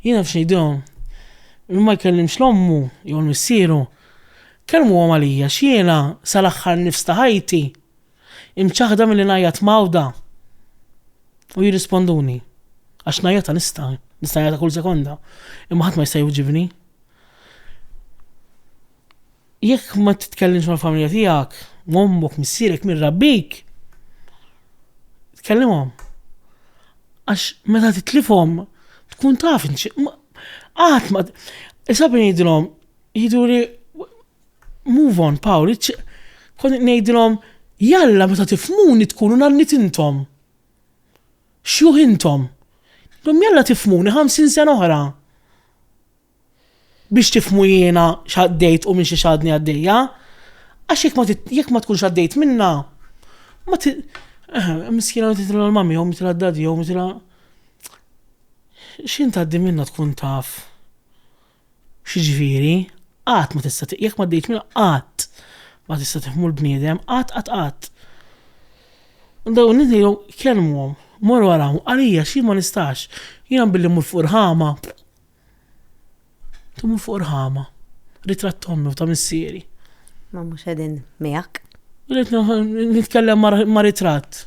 Jien naf x'ngħidilhom. Min ma jkellimx 'l ommu jew 'l missieru, kellmuhom għalija għax jiena sal-aħħar nifs ta' ħajti imċaħħda milli ngħajjat mgħawda u jirrisponduni. Għax ngħajjata nista', nista' ngħajjata kull sekonda, imma ħadd ma jista' jwiġibni. Jekk ma titkellimx mal-familja tiegħek, ommok, missierek, min rabbik, tkellimhom. Għax meta titlifhom tkun taf qatt ma isab ngħidilhom jiduri move on Paul, kont ngħidilhom jalla meta tifmuni tkunu nannit intom. Xjuħ intom. Dom jalla tifmuni 50 sena oħra. Biex tifhmu jiena x'għaddejt u minn xiex għadni għaddejja. Għax jekk ma jekk ma tkunx għaddejt minnha, ma ti eh, miskina titilha l-mami jew mitilha d-dadi jew mitilha x'int għaddi minna tkun taf x'ġifieri, qatt ma tista' jekk ma għaddejt minnha qatt ma tista' tifhmu l-bniedem, qatt qatt qatt. Dawn nidhilhom kelmhom, morru għalhom, għalija xi ma nistax, jiena billi mur fuq il-ħama, Tumu fuq rħama. Ritratt ta' ommi u ta' missieri. Ma mhux qegħdin miegħek. Rrid nitkellem ma' ritratt.